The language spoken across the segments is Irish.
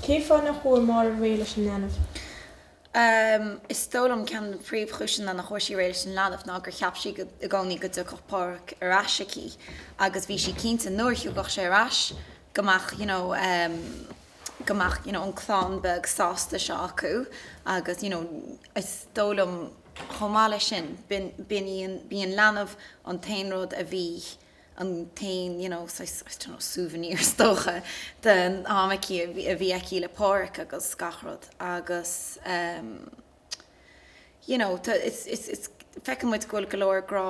Cén fáth nach bhfuair Máire réidh leis an leanbh? Is dóigh liom ceann de na príomhchúiseanna nach bhfuair sí réidh leis an leanbh ná gur cheap sí i gcónaí go dtiocfadh Páraic ar ais aici agus bhí sí cinnte nuair a thiocfadh sé ar ais go mbeadh you know go mbeadh you know an clann beag sásta seo acu agus you know is dóigh liom chomh maith leis sin b'in b'in í an b'í an leanbh an t-aon rud a bhí an t-aon you know saghas I don't know souvenir is dócha den am aici a bhí aici le Páraic agus gach rud agus ehm you know tá it's it's it's feiceann muid go bhfuil go leor grá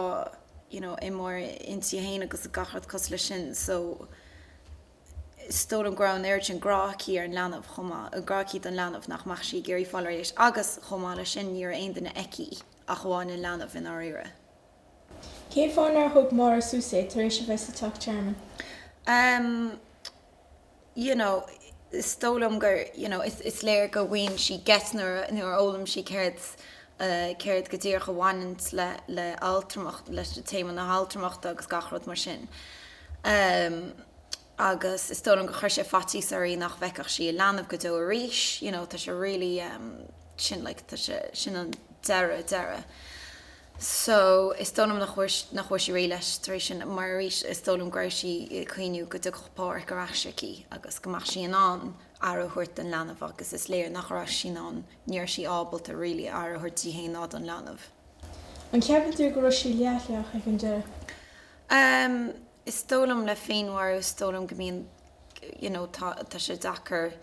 you know i Máire inti féin agus gach rud cosúil leis sin so is dóigh liom go raibh an oiread sin grá aici ar an leanbh chomh maith an grá aici don leanbh nach mbeadh sí ag iarraidh fáil réidh leis agus chomh maith leis sin ní raibh aon duine aici ach amháin an leanbh i ndáiríre. Cén fáth nár thug Máire suas é tar éis a bheith sa Teach Tearmainn? em you know is dóigh liom gur you know is is léir go when she gets nuair a nuair a fhoghlaim sí céard eh céard go díreach a bhaineann le le altramacht leis an téama na haltramachta agus gach rud mar sin em agus is dóigh liom gur chuir sé faitíos uirthi nach bhfeicfeadh sí a leanbh go deo arís you know tá sé really em sin like tá sé sin an deireadh deireadh so is dóigh liom nach bhfuair nach bhfuair sí réidh leis tar éis sin mar arís is dóigh liom go raibh sí ag cuimhniú go dtiocfadh Páraic ar ais aici agus go mbeadh sí in ann aire a thabhairt don leanbh agus is léir nach raibh sí in ann ní raibh sí ábalta really aire a thabhairt di féin ná don leanbh. An ceapann tú go raibh sí leithleach ag an deireadh? Em. Is dóigh liom le féinmharú, is dóigh liom go mbíonn you know tá tá sé deacair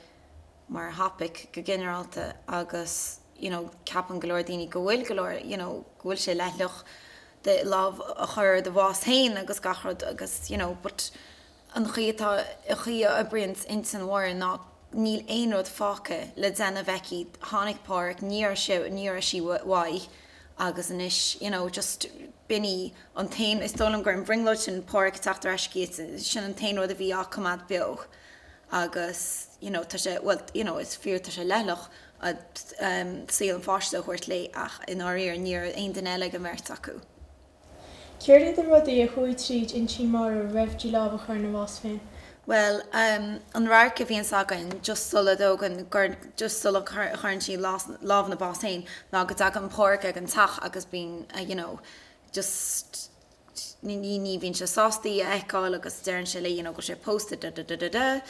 mar thopic go ginearálta agus you know ceapann go leor daoine go bhfuil go leor you know go bhfuil sé leithleach do lámh a chur i do bhás féin agus gach rud agus you know but an chaoi atá an chaoi a oibríonn intinn Mháire ná níl aon rud fágtha le déanamh aici tháinig Páraic ní raibh sé ní raibh sí uaidh agus anois you know just b'in í an t-aon is dóigh liom gur an bhrionglóid sin Páraic ag teacht ar ais aici sin an t-aon rud a bhí á coimeád beo agus you know tá sé bhuel you know is fíor tá sé leithleach ehm saol an pháiste a thabhairt léi ach i ndáiríre ní raibh aon duine eile ag an mbeirt acu. Céard iad na rudaí a chuaigh tríd intinn Mháire roimh di lámh a chur ina bás féin? Bhuel, an radharc a bhíonns againn just sula dtógann, just sula gcuireann sí lámh ina bás féin ná go dtagann Páraic ag an teach agus bíonn you know just ní bhíonn sé sásta í a fheiceáil agus deireann sé léi you know go raibh sé pósta da-da-da-da-da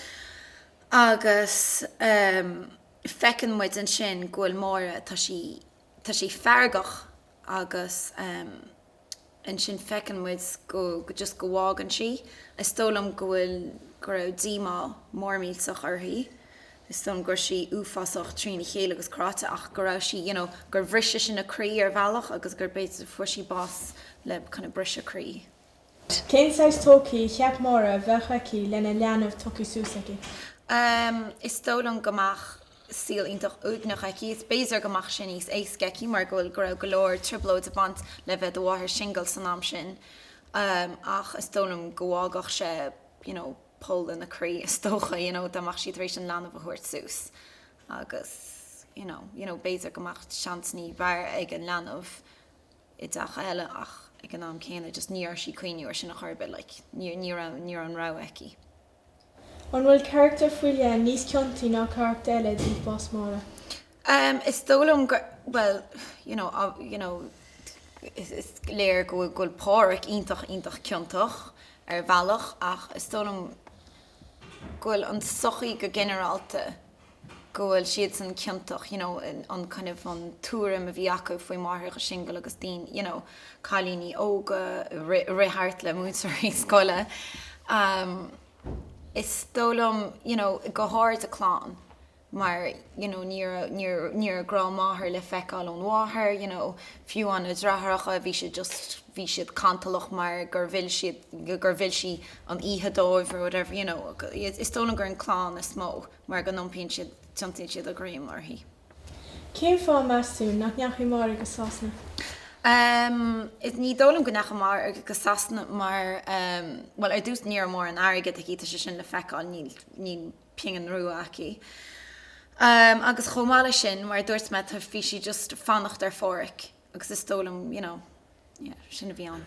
agus feiceann muid ansin go bhfuil Máire, tá sí. tá sé feargach agus ansin feiceann muid go just go bhfágann sí. Is dóigh liom go bhfuil, go raibh díomá mór millteach uirthi. Is dóigh liom go raibh sí uafásach trína chéile agus cráite ach go raibh sí, you know, gur bhris sé sin a croí ar bhealach agus gur b'fhéidir fuair sí bás le kind of briseadh croí. Cén saghas todhchaí a cheap Máire a bheadh aici lena leanbh tugtha suas aici? Is dóigh liom go mbeadh saol iontach uaigneach aici is b'fhéidir go mbeadh sé níos éasca aici mar go bhfuil, go raibh go leor trioblóid ag baint le bheith do mháthair singil san am sin ach is dóigh liom go bhfágfadh sé you know poll ina croí is dócha you know dá mbeadh sí tar éis an leanbh a thabhairt suas agus you know, you know b'fhéidir go mbeadh seans ní b'fhearr ag an leanbh. i dteach eile ach ag an am céanna just ní raibh sí ag cuimhniú ar sin a chor ar bith like ní ní raibh ní raibh an rogha aici. An bhfuil carachtar faoi leith níos ciontaí ná carachtar eile i dtaobh bás Máire? Em is dóigh liom go bhuel you know you know is is léir go bhfuil go bhfuil Pádraic iontach iontach ciontach ar bhealach ach is dóigh liom go bhfuil an tsochaí go ginearálta, go bhfuil siadsan ciontach you know an kind of an tuairim a bhí acu faoi máithreacha singil agus daoine you know cailíní óga a rith thart le múinteoirí scoile um is dóigh liom you know go háirid a clann mar you know ní ní ní raibh grá máthair le feiceáil ón mháthair you know fiú an a deartháireacha bhí siad just bhí siad cantalach mar gur mhill siad gur mhill sí an oíche dóibh or whatever you know is dóigh liom gur an clann is mó mar go n-iompaíonn siad, tiontaíonn siad a dhroim uirthi. Cén fáth, meas tú, nach ndeachaigh Máire go Sasana? Em is ní dóigh liom go ndeachaigh Máire go Sasana mar em bhuel ar dtús ní raibh mórán airgead aici tá sé sin le feiceáil níl, níl pingin rua aici em agus chomh maith leis sin mar a dúirt mé tá, bhí sí just fanacht ar Pháraic. Agus is dóigh liom, you know, yeah, sin a bhí ann.